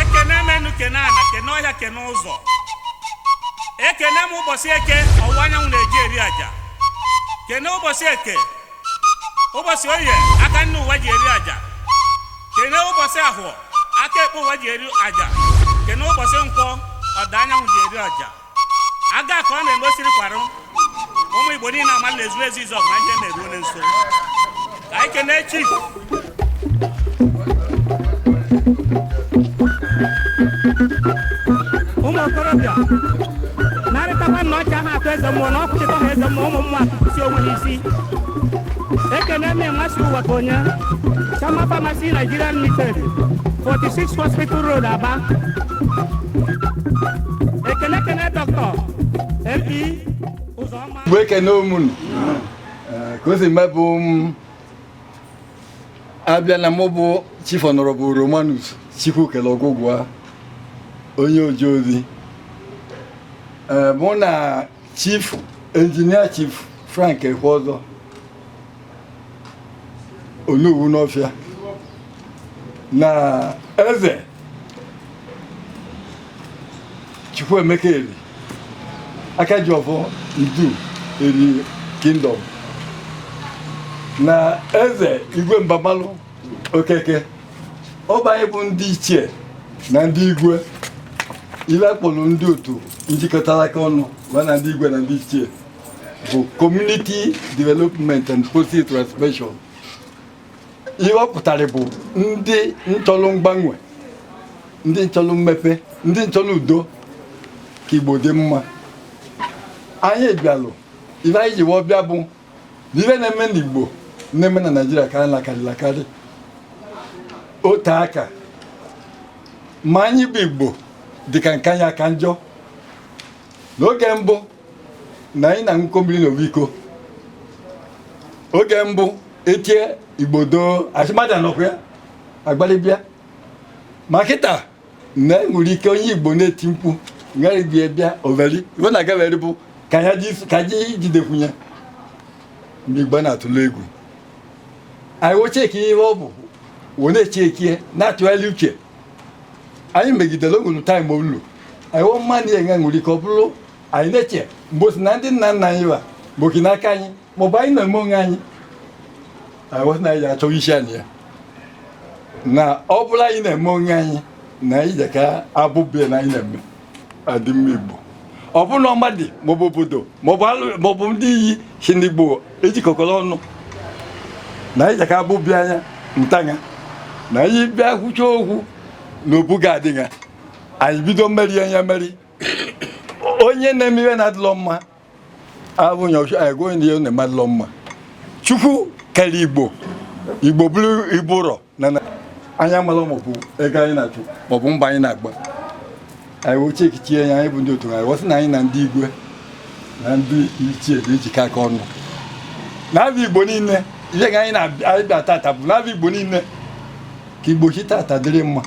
ekene m enu kene ana kene ọhịa kene ụzọ ekene m ụbọsị eke ọwụwa anyanwụ na-eji eri aja kene ụbọsị eke ụbọsị oye aka nni ụwa ji eri aja kene ụbọsị ahọ aka ekpe ụwa ji eri aja kene ụbọsị nkwọ ọda anyanwụ ji eri aja aga ka ọ na-eme osiri kwarụ ụmụ igbo niile ama na ezu ezu izọgụ na ihe na-eru onye nso ka anyị kenee chi ụmụ okorobịa narịtakwa na ọcha ha atụ eze mmụọ na ọ kwụchịta ha eze mmụọ ụmụ mmụọ si onwe ha isi ekene mme mmasị ụwa ka onye chama pharmacy nigerian limited 46 hospital road aba ekene ekene dọkịta mp ụzọma bụ ekeneo m unu Eh, ka o si mee bụ m abịa na mụ bụ chief honorable romanus chukwukelu ọgụgụa onye oje ozi Eh, mụ na Chief Engineer Chief Frank Ekweọzọ Onowu Nawfia na eze Chukwuemeka Eri aka ji ọvọ n'Iduu Eri Kingdom na eze Igwe Mbamalụ okeke ọ bụ anyị bụ ndị ichie na ndị igwe ile kpọlụ ndị otu njikọtalụ aka ọnụ ma na ndị igwe na ndị ichie bụ community development and policy transformation ihe ọ pụtara bụ ndị nchọlụ mgbanwe ndị nchọlụ mmepe ndị nchọlụ udo ka igbo dị mma anyị bịalụ ife anyị ji wo bịa bụ n'ive na-eme n'Igbo na-eme na Naịjirịa ka a na-akarịla akarị ote aka ma anyị bụ Igbo dịka nke anyị aka njọ n'oge mbụ na anyị na-aṅụkọ mmiri n'ovu iko oge mbụ etie Igbo doo a sị mmadụ anọkwa ya agbalị bịa ma kịta na e nwere ike onye igbo na-eti mkpu ngaribia bịa overi iwe na agaveri bụ ka ya ka ji jidekwunye ndị igbo na-atụle egwu anyị wo chekie ihe ọ bụ wee na-echekie na-atụgharị uche anyị megidere ogologo time olu anyị wo ma na e nwere ike ọ bụrụ anyị na-eche mgbe o si na ndị nna nna anyị wa mgbe o si n'aka anyị maọbụ anyị na-eme onwe anyị anyị na anyị achọ isi anyị ya na ọ bụla anyị na-eme onwe anyị na anyị ji ka abụbe na anyị na-eme adịmma Igbo ọ bụ na madị maọbụ obodo maọbụ ndị isi n'Igbo ejikọkọrọ ọnụ na anyị ji ka abụbe anya ntanya na anyị bịa kwucha okwu na obu ga-adịghị anyị bido merie ya merie onye na-eme ihe na-adịlọ mma abụghị ọchụ anyị gụọ ihe na-adịlọ mma chukwu kere igbo igbo bụrụ igbo ụrọ na na anya mara maọbụ ego anyị na-achụ maọbụ mbọ anyị na-agba anyị wee chekichie ya anyị bụ ndị otu anyị wee sị na anyị na ndị igwe na ndị ichie na-ejikọ aka ọnụ na be igbo niile ihe ga anyị na-abịa tata bụ na be igbo niile ka ụbọchị tata dịrị mma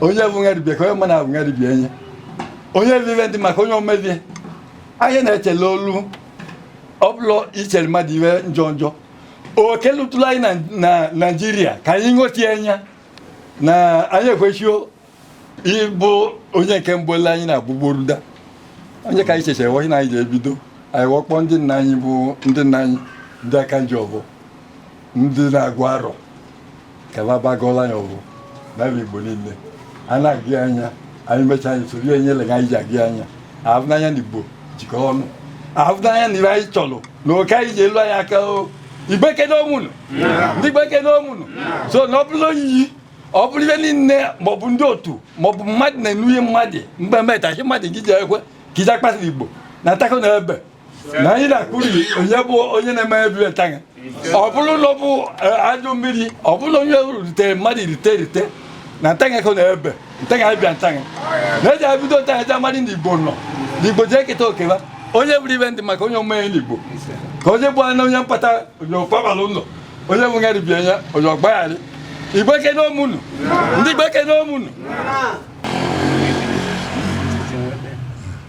onye bụ nwa dibịa ka onye mma na-abụ nwa dibịa enye onye bụ ibe ndị maka onye omebie anyị na-echele olu ọbụla ichere mmadụ iwe njọ njọ oke lụtụrụ anyị na naijiria ka anyị ṅochie anya na anyị ekwesịo ịbụ onye nke mbụ ele anyị na-agbụgboruda onye ka anyị chechere wee sị na anyị ga-ebido anyị wee kpọọ ndị nna anyị bụ ndị nna anyị ndị aka ji ọfọ ndị na-agụ arọ kalabagọla ya ọrụ na be Igbo niile a na-agụ ya anyị mechaa anyị soro ya nyere anyị ji agụ ya ahụ n'anya na Igbo jikọ ọnụ ahụ n'anya na ibe anyị chọrọ na oke anyị ga-elu anyị aka o igbo ekene m ụnụ ndị igbo ekene m ụnụ so na ọ bụrụ oyiyi ọ bụrụ ive niile maọbụ ndị otu maọbụ mmadụ na-enu ihe mmadụ mgbe metachi mmadụ gị ji ekwe ka ije akpasịrị Igbo na atako na ebe na anyị na-akụri onye bụ onye na-eme ebi etaghị ọ bụrụ na ọ bụ e, ajụ mmiri ọ bụrụ na onye rute mmadụ irite irite na ntaghị ka ọ na-ebe ntaghị abịa ntaghị na eji abido ntaghị eji amadị na igbo nọ na igbo ji eketa okeba onye bụrụ ibe ndị maka onye omenye n'igbo ka onye bụ na onye mkpata onye ọkpabara ụlọ onye bụ ngarị bie ya onye ọgbagharị igbo ekene m ụnụ ndị igbo ekene m ụnụ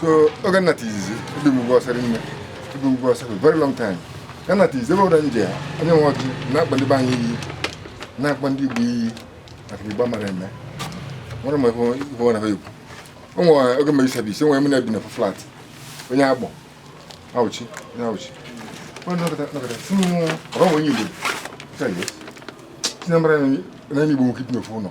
so oge m nata izizi ebi m ugwu awụsa nne ibe ugwu awụsa a very long time ya m nata izizi ebe ọbụla m jee onye nwe ọjị na-akpọ ndị be anyị iyi na-akpọ ndị igbo iyi maka igbo mara eme nwere m ife ife ọ na-ekwu o nwere oge mere service nwere m na-ebi na flat onye agbọ awụchi onye awụchi onye nọkọta nọkọta sị m abụ m onye igbo Sị ya, yes. sị na ọ marọ na onye igbo nwee ike ibi n'ofu ụlọ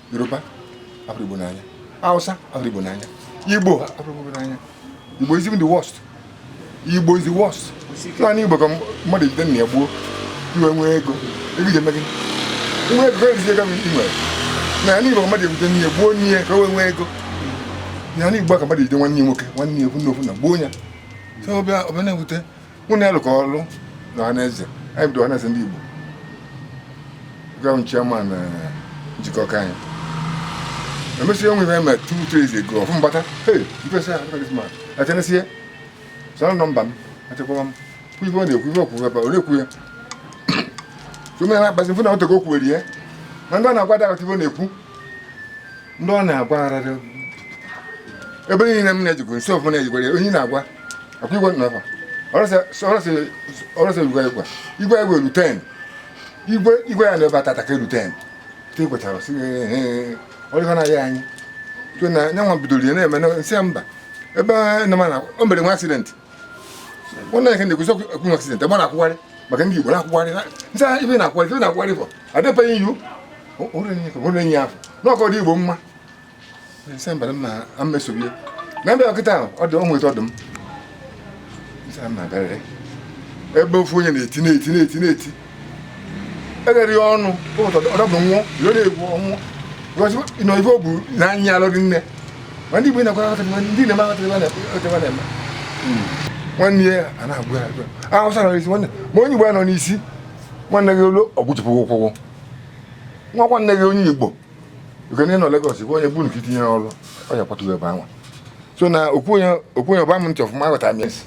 yoruba afụrọ igbo n'anya hausa afụrọ igbo n'anya igbo afụrọ igbo n'anya igbo is even the worst igbo is the worst naanị igbo ka mmadụ ejide nna ya gbuo wee nwee ego ego ji eme gị nwa ego ejizi ego i nwere naanị igbo mmadụ ebute nne ya gbuo nne ya ka o wee nwee ego naanị igbo ka mmadụ ejide nwanne ya nwoke nwanne ya ofu nne ofu nna gbuo ya so ọ bịa ọ bịa na-ewute mụ na ya lụkọ ọrụ na ọhaneze anyị bido ọhaneze ndị Igbo gwa m chairman eh, Njikọka anyị emesịa o nwee ife mere two three days ago ọfụ mbata hey ifesa ya look at this man atenesie sọrọ nọmba m achekwawa m kwụ ife ọ na-ekwu ife o kwu ebe ọ na-ekwu ya tume na akpazi mfụ na o tego o kwuwere ya na ndị ọ na-agwa adị aghọta ife ọ na-ekwu ndị ọ na-agwa arara ebe niile m na-ejikwa nso ọfụ na-ejikwara ya onye ị na-agwa akwa igwe nọ ebe ọrụsị igwe igwe igwe igwe elu 10 igwe igwe ya na ebe atata ka elu 10 te kwetara sị ọrịa na-aya anyị so na anyịnwa bidoro ya na-eme m sị mba ebe na mana o mere nwee accident nwanne ya ka na-ekwusi okwu nwee accident ebe ọ na-akwụgharị maka ndị Igbo na-akwụgharị m sị ife ọ na-akwụgharị ife ọ na-akwụgharị bụ adịbeghị iwu onye afọ n'ọkọ dị Igbo mma ebe ofu onye na-eti eghere ya ọnụ ọdọbụ nwụọ iro na-egwu ọnwụ nọ ife o bu n'anya alụghị nne ma ndị Igbo na-akwara aghọta ndị na-eme aghọta ife na-eme nwanne ya a na-egbu ya Awụsa nọ n'isi nwanne ma onye Igbo ya nọ n'isi nwanne gị olu o gbujipụ ụkwụ nwa nwanne gị onye Igbo Ukene nọ Lagos bụ onye bụ nke itinye ọrụ ọ ya kwatụrụ ebe anwa so na okwu onye okwu onye ọ ba m ntị ọfụma aghọtara m ya esi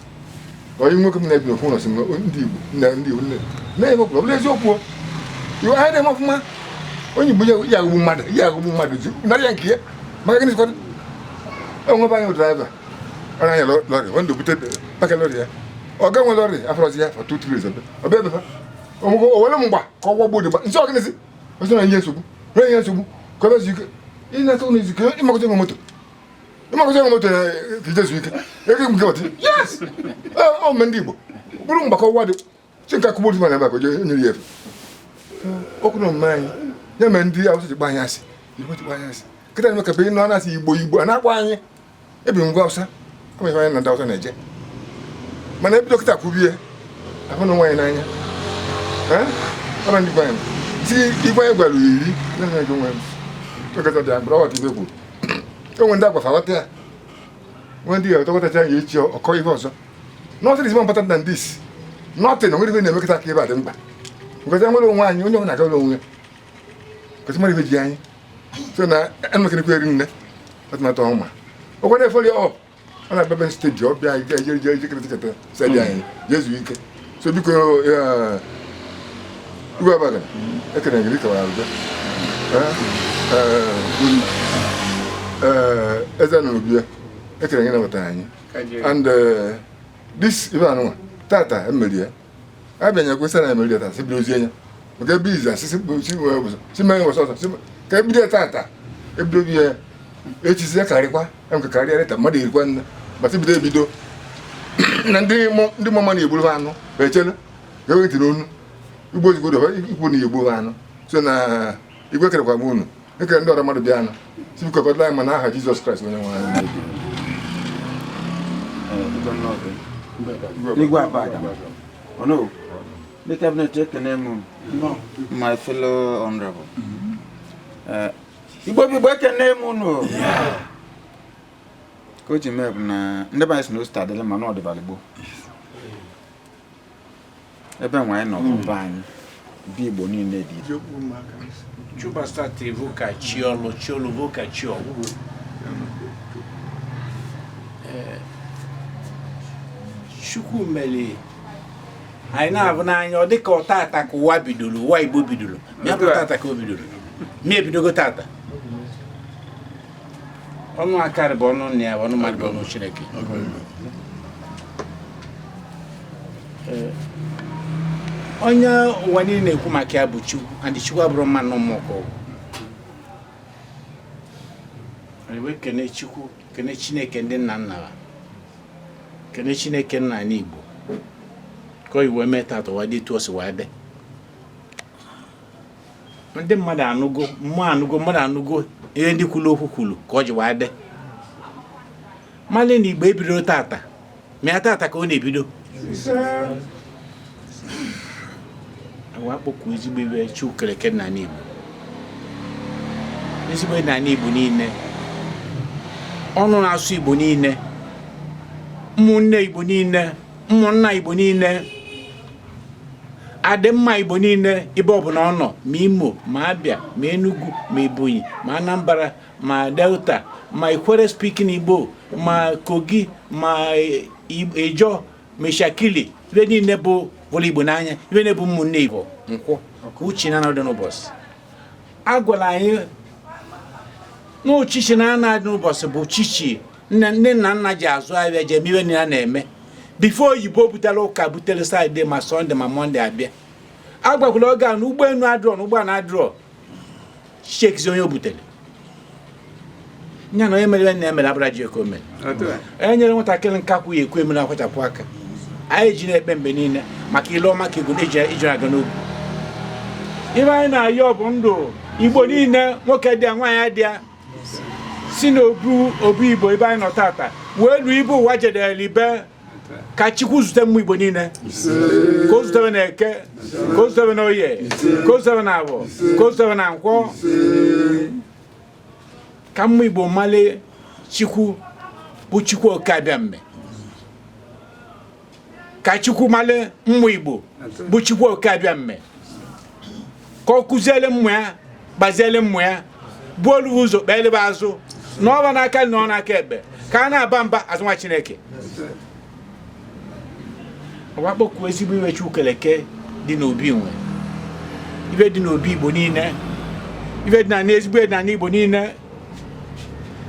onye nwoke m na-ebi n'okwu ụlọ si m ndị Igbo nna ndị Igbo nne na-enye ọbụla ọbụla eziokwu o. Ife anyị na-eme ọfụma onye Igbo ya ya aghọgbu mmadụ ya aghọgbu mmadụ ji narị ya nke ya maka gịnị sịkwa enwebe anyị driver ọ na-anya lọ- lọrị ọ ndụ bute paka lọrị ya ọga nwe lọrị afụrọzi ya for two three days ọ bịa ebe fa onwego o were mgba ka ọ gwagbuo dị mgba m sị ọ gịnịzi ọ sị na-enye nsogbu na-enye nsogbu ka ebe zuike ị na-ata ụlọ izuike ịmakọta enwe moto ịmakọta enwe moto na ka i je zuike ego nke ọtị ọ mme ndị Igbo bụrụ mgbakọ ụwa dị si nke akụgbu otu mana maka jee nyere ya efe okwu na omume anyị ya mere ndị Awụsa ji gba anyị asị kịta na-eme ka be ị nụ na a sị Igbo Igbo a na-akpọ anyị ebi ngwa Awụsa ama ihe anyị na ndị Awụsa na-eje mana e bido kịta kwubie ahụ na nwaanyị n'anya ọra ndị gwanyị ti igwe anyị gwara iri na-enye gị nwe m tokọta dị agbụrụ ọ ghọta ife e kwuru e nwee ndị a gwa fa ghọta ya nwe ndị ga-etọkọtacha ya echi ọ kọọ ihe ọzọ nothing is more important than this nothing o nwere ihe na-emekọta ka ebe a dị mkpa because nwere onwe anyị onye ọ na-agara onwe ya ka sị mara ihe ji anyị so na e nwekerekwa erinne atụmatụ ọma ọkwa na-efoli ọ ọ na bebi steji ọ bịa ike jere jere jekere tiketa sedi anyị jezu ike so biko igwe Abada ekene m gị dịka wara abịa eze na obi ya ekene m gị nabata anyị and this ive a nụnwa tata e meri ya a bịa nyekwa sara emeri data si biri ozi anya maka ebe izi asị si mee wasa ọsọ ka e bido ya tata e bido bi ya echizi ya karịkwa emka karịa leta mmadụ erikwa nne gbata bido ebido na ndị mama na-egburu ha anụ ma echele ga-ewetiri onu igbo ozugbo ikwu na igbo ha anụ so na igwe ekenekwa m unu ekene ndị ọra mmadụ bịa anụ sị biko kọtara anyị ma na aha Jizọs Kraịst onye nwe anyị Igwe Abada. Onowu, ndị kabinet ekene m unu my fellow honorable. Eh, Igbo bụ Igbo ekene m unu. Ka o ji mee bụ na ndị be anyị sị na o si taa dịla mma na ọ dịbala gboo. ebe nwa anyị nọ n'ụba hmm. anyị ndị Igbo niile dị chubasta tevu ka chi ọlụ chi ọlụ bụ ka chi ọgwụgwụ eh, chukwu mere anyị na-avụ n'anya ọ dịka ọ tata ka ụwa bidoro ụwa igbo bidoro ya bụ tata ka o bidoro ma e bidogo tata ọnụ akarị bụ ọnụ nna ya ọnụ mmadụ bụ ọnụ chineke eh, onye ụwa niile na-ekwu maka ya bụ Chukwu and Chukwu abụrụ mma na mmụọ wee kene Chukwu kene Chineke ndị nna nna ha kene Chineke nna anyị Igbo ka o ji wee mee tata ụwa dị etu o si wee dị ndị mmadụ anụgo mmụọ anụgo mmadụ anụgo ihe ndị kwuru okwu kwuru ka o si wee dị mara na Igbo ebidoro tata ma ya tata ka ọ na-ebido a wee kpọkuo ezigbo ive Chukwu kere eke n'ani Igbo ezigbo n'ani Igbo niile ọnụ na-asụ Igbo niile ụmụnne Igbo niile ụmụnna Igbo niile adịmma Igbo niile ebe ọ bụla ọ nọ ma Imo ma Abịa ma Enugu ma Ebonyi ma Anambra ma delta ma ikwere speaking igbo ma kogi ma ijọ ma ishekiri ebe niile vụrụ igbo n'anya ebe niile bụ ụmụnne igbo nkwụ uchichi naanọ dị n'ụbọchị a gwara anyị na uchichi naanọ dị n'ụbọchị bụ uchichi nne na nna ji azụ ahịa ji eme ive niile na-eme bifọ oyibo butere ụka butere satọde ma sọnde ma mọnde a bịa gwakwara oge a na ụgbọelu adịrọ na ụgbọala adịrọ shekizi onye o butere nya na onye mere na emere abụra ji eke o mere e nyere nwatakịrị nka kwụ ya ekwu emere akwachapụ aka anyị ji na-ekpe mgbe niile maka ile ọma ka ejuna ji aga n'ogwu ive anyị na-ayọ bụ ndụ igbo niile nwoke dị ya nwaanyị dị ya si n'obu obu igbo ebe anyị nọ tata wee luo ibe ụwa jedere ibe ka chukwu zute ụmụ igbo niile ka o zute ve na eke ka o zute ve na oye ka o zute ve na avọ ka o zute ve na nkwọ ka ụmụ igbo mali chukwu bụ chukwu oke abịame ka chukwu mali ụmụ igbo bụ chukwu oke abịame ka ọ kụziele ụmụ ya gbaziele ụmụ ya bulu ụzọ kpeele ve azụ nọ va n'aka nni n'aka ekpe ka a na-aba mba azụnwa chineke ọwakpọkuo ezigbo ive chukwu kele eke dị n'obi nwe ive dị n'obi igbo niile ive dị na n'ezigbo dị n'ana igbo niile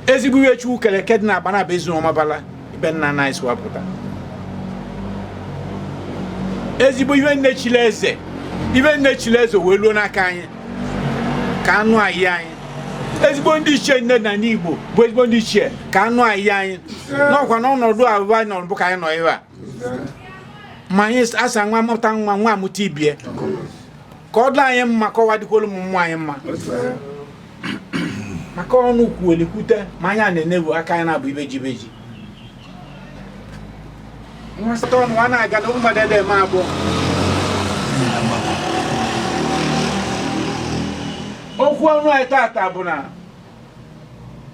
ezigbo ihe chukwu kere eke dị na agbanabọ ezu ọmabala ibe nna nna anyị si wee pụta ezigbo ihe nne chile eze ibe nne chile eze wee luo n'aka anyị ka a nọnye anyị ezigbo ndị ichie niile n'ana igbo bụ ezigbo ndị ichie ka a nọnye anyị n'ọkwa n'ọnọdụ ọbụna anyị nọrọ bụ ka anyị nọ ebe a ma anyị asa nwa mụta nwa nwa amụta ibie ka ọ dị anyị mma ka o wee dịkwolu ụmụ anyị mma maka ọnụ kwuolikwute ma anya na-enebu aka ya na-abụ ibeji ibeji nwa site ọnụ a na-aga na mmadụ adị eme abụọ okwu ọnụ anyị tata bụ na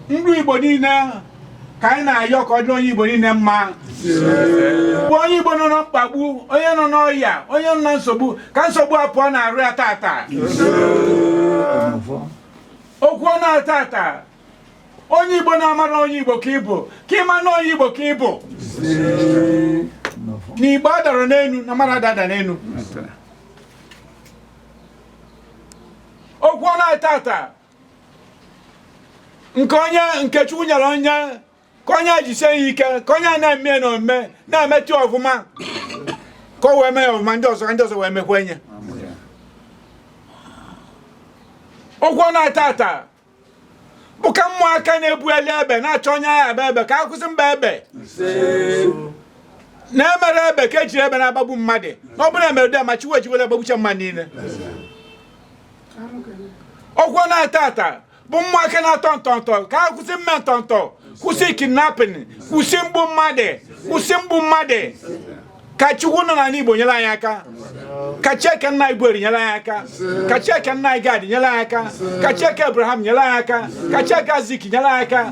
ndụ Igbo niile ka anyị na-ayọ ka ọ dịrị onye Igbo niile mma bụ onye Igbo nọ na mkpagbu onye nọ n'ọya onye nọ na nsogbu ka nsogbu a pụọ n'arụ ya tata okwu ọnụ anyị tata onye Igbo na-amara onye Igbo ka ị bụ ka ị ma na onye Igbo ka ị bụ na Igbo adarọ n'elu na mmadụ adada n'elu okwu ọnụ anyị tata nke onye nke chukwu nyere onye ka onye jisie ya ike ka onye na-eme ya na omume na-emete ya ọfụma ka o wee mee ya ọfụma ndị ọzọ ka ndị ọzọ wee mekwa enye okwu ọnụ tata bụ ka ụmụaka na-ebuli egbe na-achọ onye a ga-agba egbe ka a kwụsị ịgba egbe na emerọ egbe ka e jiri egbe na-agbagbu mmadụ na ọ bụlụ emere dị ma chiwe ejiwere agbagbucha mmadụ niile ọkwa na tata bụ ụmụaka na-atọ ntọntọ ka a kwụsị mme ntọntọ kwụsị kidnapping kwụsị mgbu mmadụ kwụsị mgbu mmadụ ka chukwu nọ n'ala igbo nyere anyị aka ka chi nke nna anyị bụ eri nyere anyị aka ka chi nke nna anyị gad nyere anyị aka ka chi nke abraham nyere anyị aka ka chi nke isaac nyere anyị aka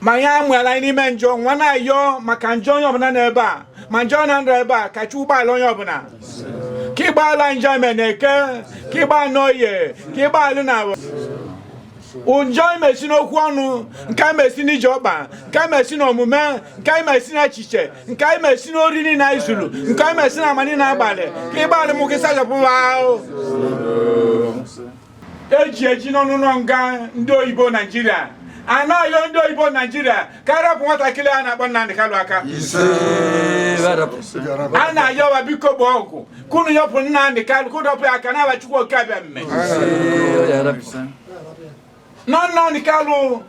ma ihe a mụara anyị n'ime njọ nwa na-ayọ maka njọ onye ọbụla nọ ebe a ma ndị na-anọghị ebe a ka chukwu gbaghalụ onye ọbụla ka ị gbaghalụ njọ e me na eke ka ị gbaghalụ n'oye ka ị gbaghalụ njọ e mesi n'okwu ọnụ nke a mesi n'ije ọkpa nke a mesi n'omume nke a mesi n'echiche nke a mesi n'ori niile anyị zuru nke a mesi na ama niile a gbalụ ka ị gbaghalụ ụmụ gị sachapụ wa ahụ eji eji nọ n'ụnọ nga ndị oyibo naijiria a na-ayọ ndị oyibo naijiria ka a rapụ nwatakịrị a na-akpọ Nnamdi Kanu aka a na-ayọ wa biko bụ ọgwụ ka unu rapụ Nnamdi Kanu ka unu rapụ ya aka n'afa Chukwu oke abịama na Nnamdi Kanu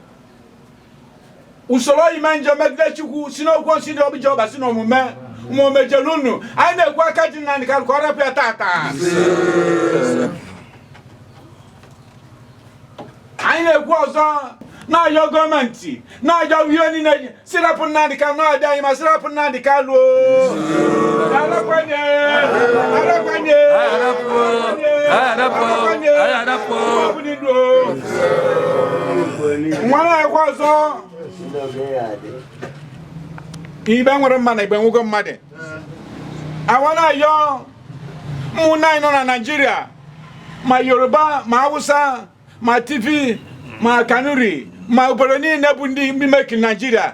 usoro ime njọ megide chukwu si n'okwu nsi dị obi jehova si n'omume ma o mejọrọ unu anyị na-ekwu aka ji Nnamdi Kanu ka ọ rapụ ya tata anyị na-ekwu ọzọ na-ayọ gọọmenti na-ayọ ndị niile ji si rapụ Nnamdi Kanu na-adị anyị ma si rapụ Nnamdi Kanu nwa na-ekwu ọzọ igbo nwere mmadụ na igbo nwego mmadụ awa na-ayọ ụmụnne anyị nọ na naijiria ma yoruba ma hausa ma tiv ma kanuri ma obodo niile bụ ndị mimeki naijiria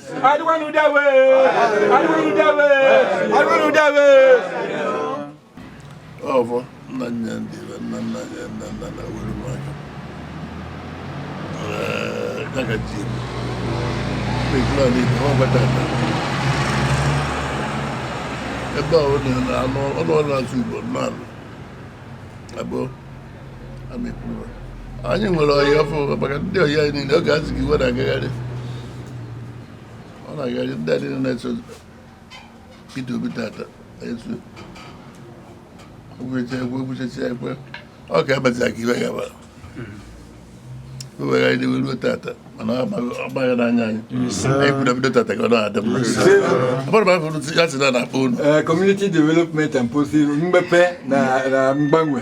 ọbụ nna nna ndị nna nna ya nna nna na were m aka ya ka ji ekele ọla ibe ọ gbata aka ebe a ọ na-alụ ọrụ ọrụ azụ igbo na-alụ abụọ anyị nwere ọyị ọfụ maka ndị ọyị anyị niile oge azụ gị iwe na-agagharị ọ na-agagharị ndị a niile na-eso Peter Obi tata esu ogwucha ekwe ogwuchacha ekwe ọ ka emecha ka iwe gaba wegharị n'iwe ruo tata mana ọ gbaghị n'anya anyị anyị kwuru bido tata ka ọ na-adị mma abụrụ m afọ ya si na na-akpọ unu community development and policy mmepe na mgbanwe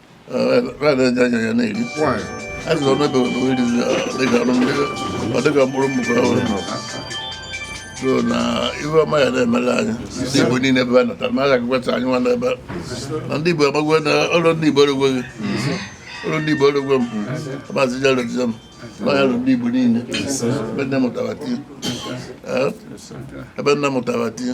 so na ife ọma ya na-emere anyị ndị Igbo niile ebe a natara ma a ga-agụkwata anyị nwa n'ebe na ndị Igbo amagwe na ọrụ ndị Igbo erugwe gị ọrụ ndị Igbo erugwe m maazị jaretiza m n'ọnya lụ ndị Igbo niile ebe nne mụtara tie ebe nne mụtara tie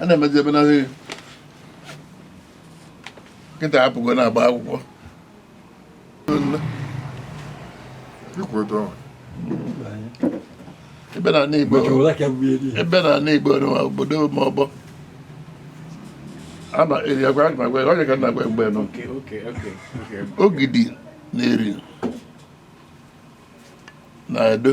a na-emezi ebe na nkịta apụgo na-agba akwụkwọ ebe na ana igbo ebe na ana igbo nwa obodo ma ọgbọ ama eri agwa onye ka na-agwa mgbe nọ ogidi na eri na edo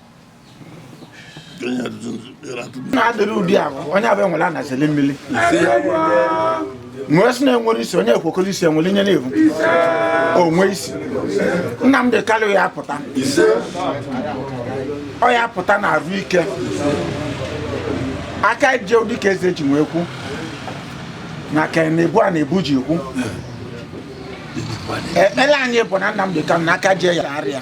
na-adịrị ụdị ahụ onye abịa nwere anazili mmiri nwee sị na-enwere isi onye ekwekọrọ isi enwere ihe na-evu onwe isi Nnamdị Kalụ ya apụta ọ ya apụta na arụ ike aka je ụdị ka eze ji nwee kwu na ka na-ebu a na-ebu ji kwu ekpere anyị bụ na Nnamdị Kalụ na aka je ya arịa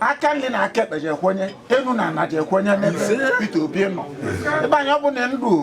aka nri na aka ekpe je-ekwenye enu na ana je-ekwenye n'ebe Peter Obi nọ ibe anyị ọ bụ na ndụ o.